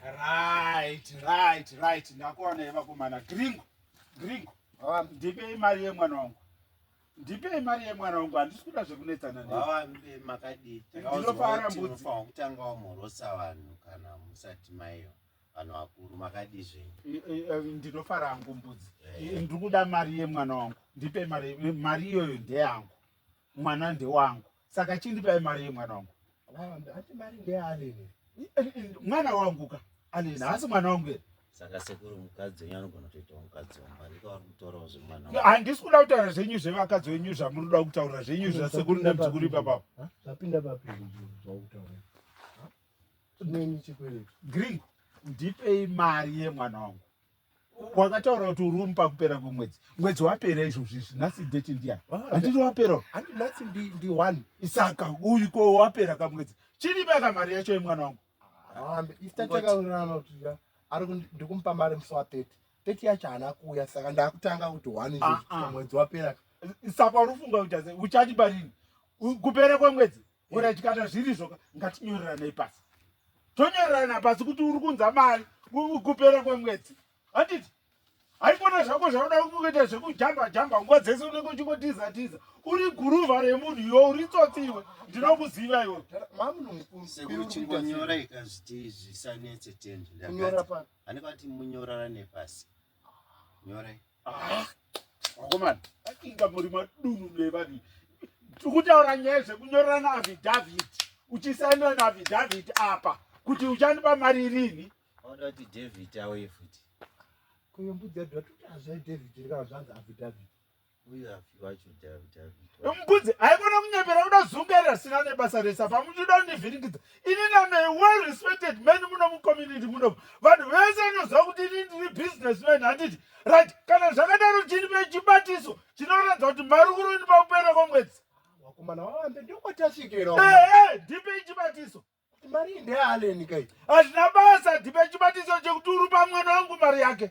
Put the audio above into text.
Right, right, right. Ndakuwana ye vakomana. Gringo, gringo. Um, ndipei mari yemwana wangu. Ndipei mari yemwana wangu. Handisi kuda zvekunetsana naye. Baba mbe makadii? Ndinofara mbudzi. Ndinofanira kutanga wamhorosa vanhu kana musati maiyo. Vanhu vakuru makadii zvenyu? Ndinofara hangu mbudzi. Eh. Ndiri kuda mari yemwana wangu. Ndipei mari, mari iyoyo ndeyangu. Mwana ndewangu. Saka chindipai mari yemwana wangu. Ati mari ndeyaanene. Mwana wangu ka anene haasi mwana wangu here? Saka sekuru mukadzi wenyu anogona kutoita mukadzi wamba ndiko vari kutaurawo zvemwana wangu. Handisi kuda kutaura zvenyu zvevakadzi wenyu zvamunoda kutaura zvenyu zvasekuru nemuzukuru ipapapo. Zvapinda papi zvakutaura? Chinenyi chikwereti? Gringo ndipei mari yemwana wangu. wakataura kuti uri kumupa kupera kwemwedzi mwedzi wapera izvozvi izvi nhasi date ndiya handiti wapera handi nhasi ndi one saka uyu ko wapera kamwedzi chini paka mari yacho yemwana wangu ndikumupa mari musi wa thirty thirty yacho haana kuuya saka ndakutanga kuti one ah, ah. mwedzi wapera saka unofunga kuti uchati parini kupera kwemwedzi Orit kana zvirizvo ngatinyoreranei pasi tonyorerana pasi kuti uri kunza mari kupera kwemwedzi handiti haikona zvako zvauda kuita zvekujamba jamba nguva dzese unenge uchingotiza tiza uri guruva remunhu iwe uri tsotsi iwe ndinokuziva iwe mamnumkunyora ikazviti zvisanetse tendanyora pasi nyorai Ah, vakomana vakinga muri madunu nevani tikutaura nyaya zvekunyorana avidhavhiti uchisainira navidhavhiti apa kuti uchandipa mari irini oda kuti dhavhiti auye futi mbudzi haikona kunyepera kudazungaira sina nebasa resa pamuchida kundivhiringidza ini name a well respected man muno mucommunity muno vanhu vese anoziva kuti ini ndiri business man handiti right kana zvakadaro chinipe chibatiso chinoratidza kuti mari kuri ini pakupera kwomwedzi vakomana vavambe ndokwatasvikira ee ndipei chibatiso mari ndealeni kai hazvina basa ndipei chibatiso chekuti uri pamwana wangu mari yake